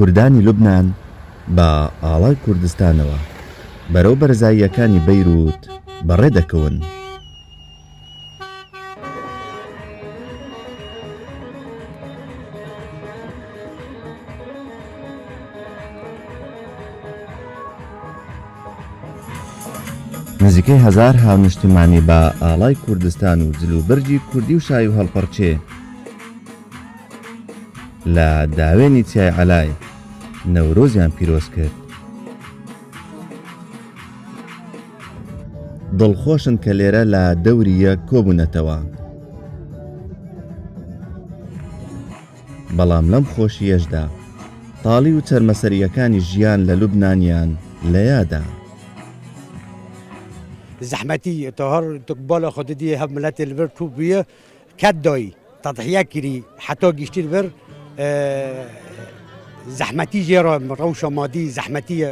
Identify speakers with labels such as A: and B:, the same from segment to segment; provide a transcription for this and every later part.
A: کوردانی لوبنان بە ئاڵای کوردستانەوە بەرەو بەرزاییەکانی بەیرووت بەڕێ دەکەون. نزیکەی هەزار هاونشتمانی بە ئاڵای کوردستان و جل و بەرگی کوردی و شای و هەڵپەڕچێ لە داوێنی چیای عەلای نەورۆزیان پیرۆز کرد دڵخۆشن کە لێرە لە دەوریە کۆبوونەتەوە بەڵام لەم خۆشییەشدا تاڵی و چەرمەسەرییەکانی ژیان لە لوبنانیان لە یادە.
B: زەحمەتی تۆ هەر تۆک بۆ لە خۆ ددیێ هەڤ ملەتێ لڤر توو بویە کەد دۆی تەدحیە کری حەتۆ گیشتیر ڤر زەحمەتی ژێ ڕۆ ڕەوشە مادی زەحمەتیە.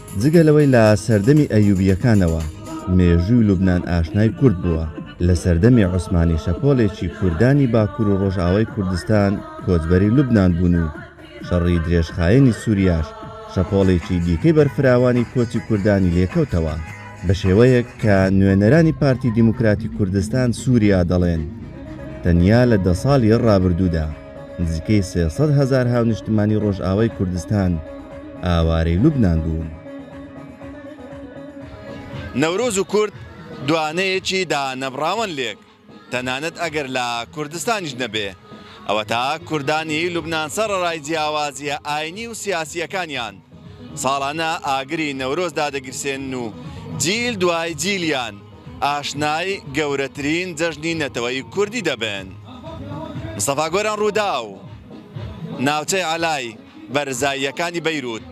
A: جگە لەوەی لە سەردەمی ئەیوبییەکانەوە مێژووی لوبنان ئاشنای کورد بووە، لە سەردەمی عوسمانی شەپۆلێکی کوردانی باکور و ڕۆژئاوای کوردستان کۆچبەری لوبنان بوون و شەڕی درێژخایەنی سوریاش شەپۆڵێکی دیکەی بەرفراوانی کۆچی کوردانی لێکەوتەوە. بە شێوەیەک کە نوێنەرانی پارتی دیموکراتی کوردستان سوریا دەڵێن تەنیا لە دە ساڵی ڕابردوودا، نزیکەی سێ سەد هەزار هاونیشتمانی ڕۆژئاوای کوردستان ئاوارەی لوبنان بوون.
C: نەورۆز و کورد دوانەیەکی دانەبڕاوەن لێک، تەنانەت ئەگەر لە کوردستانیش نەبێ، ئەوەتا کوردانی لوبنان سەڕەرای جیاوازییە ئاینی و سیاسییەکانیان، ساڵانە ئاگری نەورۆز دادەگیرسێنن و جیل دوای جیلیان، ئاشنای گەورەترین جەژنی نەتەوەیی کوردی دەبن. مستەفا گۆران رووداو، ناوچەی عەلای بەرزاییەکانی بەیرووت.